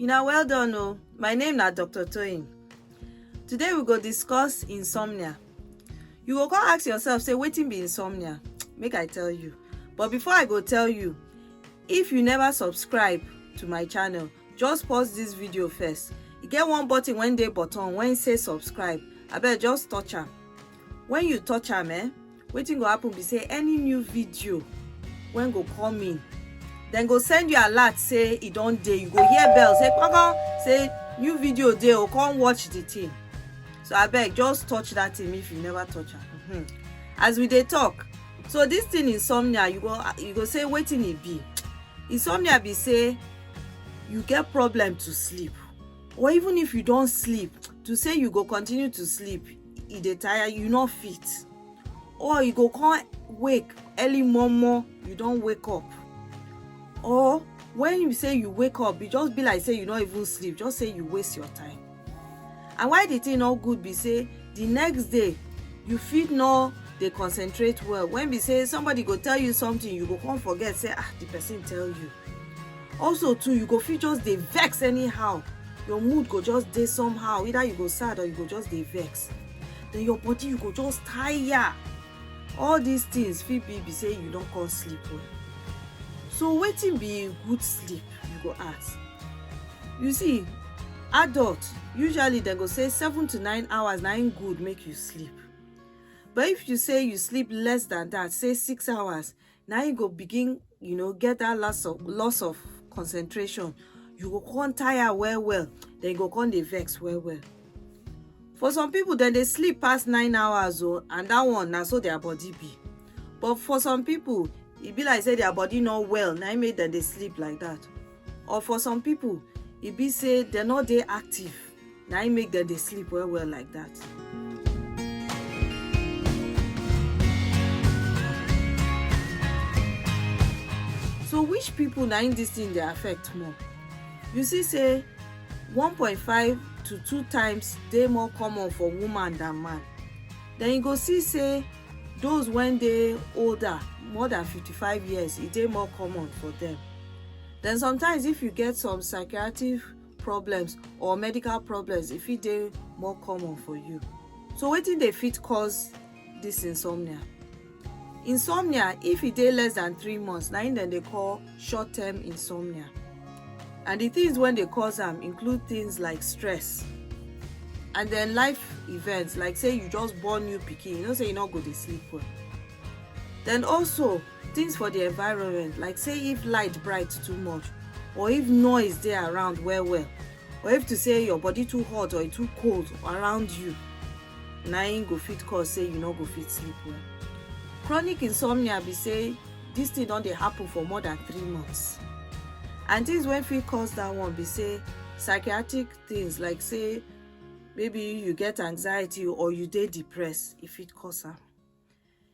Una well done o, my name na Dr. Toyin. Today we go discuss insomnia. You go come ask yourself say wetin be insomnia? Make I tell you. But before I go tell you, if you never subscribe to my channel, just pause this video first. E get one button wey dey bottom wey say subscribe. Abeg just touch am. When you touch am eh, wetin go happen be say any new video when go come in then go send you alert say e don dey you go hear bell say kpakpa say new video dey o oh, come watch the thing so I beg, just touch that thing if you never touch am mm -hmm. as we dey talk so this thing insomnia you go you go say wetin e be insomnia be say you get problem to sleep or even if you don't sleep to say you go continue to sleep e dey tire you no fit or you go come wake early momo you don wake up or when you say you wake up e just be like say you no even sleep just say you waste your time and why the thing no good be say the next day you fit no dey concentrate well when be say somebody go tell you something you go come forget say ah the person tell you also too you go fit just dey vex anyhow your mood go just dey somehow either you go sad or you go just dey vex then your body you go just tire all these things fit be be say you don come sleep well so wetin be good sleep you go ask you see adult usually dem go say seven to nine hours na im good make you sleep but if you say you sleep less than that say six hours na you go begin you know get that loss of loss of concentration you go come tire well well then you go come dey vex well well for some people dem dey sleep pass nine hours o oh, and that one na so their body be but for some people e be like say their body no well na im make dem dey sleep like that or for some people e be say dem no dey active na im make dem dey sleep well well like that. so which people na im this thing dey affect more you see say 1.5 to 2 times dey more common for woman than man then you go see say those wey dey older more than 55 years e dey more common for them then sometimes if you get some psychiatric problems or medical problems if it dey more common for you so wetin dey fit cause this insomnia insomnia if e dey less than three months na im dem dey call short term insomnia and the things wey dey cause am include things like stress and then life events like say you just born new pikin you know say you no go dey sleep well then also things for the environment like say if light bright too much or if noise dey around well well or if to say your body too hot or e too cold around you na im go fit cause say you no go fit sleep well chronic insomnia be say this thing don dey happen for more than three months and things wey fit cause that one be say psychiatric things like say maybe you get anxiety or you dey depressed e fit cause am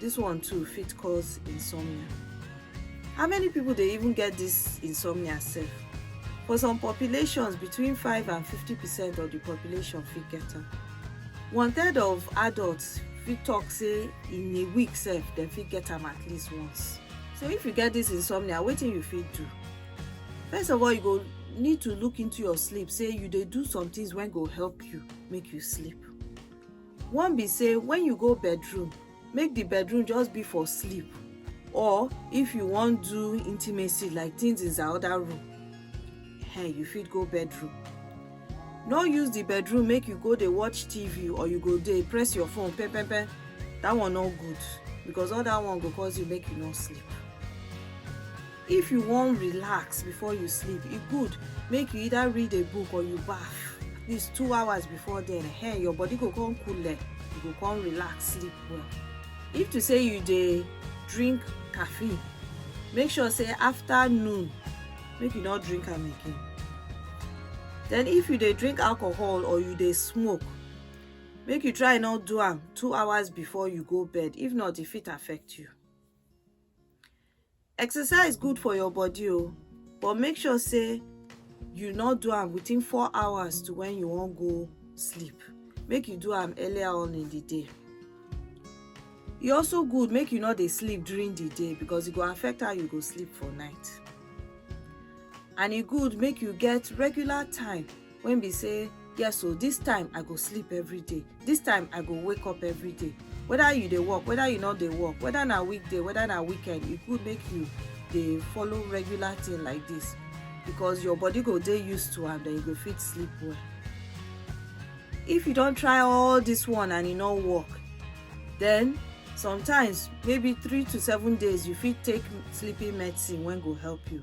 This one too fit cause insomnia. How many people dey even get this insomnia sef? For some populations, between 5 and 50 percent of the population fit get am. One third of adults fit talk say in a week sef dem fit get am at least once. So if you get this insomnia, wetin you fit do? First of all, you go need to look into your sleep say you dey do some things wey go help you make you sleep. One be say when you go bedroom, make the bedroom just be for sleep or if you wan do intimacy like things in the other room, hey, you fit go bedroom. No use the bedroom make you go dey watch TV or you go dey press your phone pe pe pe. That one no good because all that one go cause you make you no sleep. If you wan relax before you sleep, e good make you either read a book or you baff at least two hours before then eh, your body go come cool you go come relax, sleep well. If to say you dey drink caffeine, make sure say after noon, make you no drink am again. Then if you dey drink alcohol or you dey smoke, make you try no do am two hours before you go bed, if not e fit affect you. Exercise good for your body o but make sure say you no do am within four hours to when you wan go sleep make you do am earlier on in the day e also good make you no dey sleep during the day because e go affect how you go sleep for night and e good make you get regular time when be say yes so this time i go sleep every day this time i go wake up every day whether you dey work whether you no dey work whether na weekday whether na weekend e good make you dey follow regular thing like this because your body go dey used to am then you go fit sleep well if you don try all this one and e no work then sometimes maybe three to seven days you fit take sleeping medicine wey go help you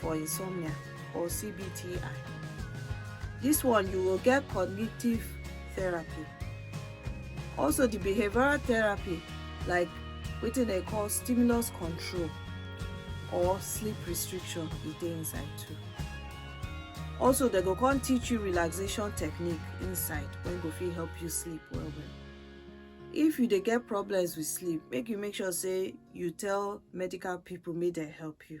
for insomnia or CBTI. This one you will get cognitive therapy. Also the behavioral therapy like within a call stimulus control or sleep restriction e dey inside too also they go come teach you relaxation technique inside when go fit help you sleep well well if you dey get problems with sleep make you make sure say you tell medical people make they help you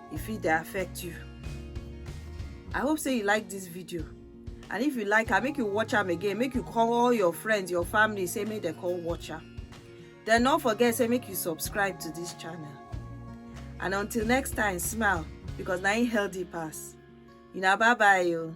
e fit dey affect you i hope say you like this video and if you like am make you watch am again make you call all your friends your family say make dem come watch am then no forget say make you subscribe to this channel and until next time smile because na im healthy pass una bye bye o. Oh.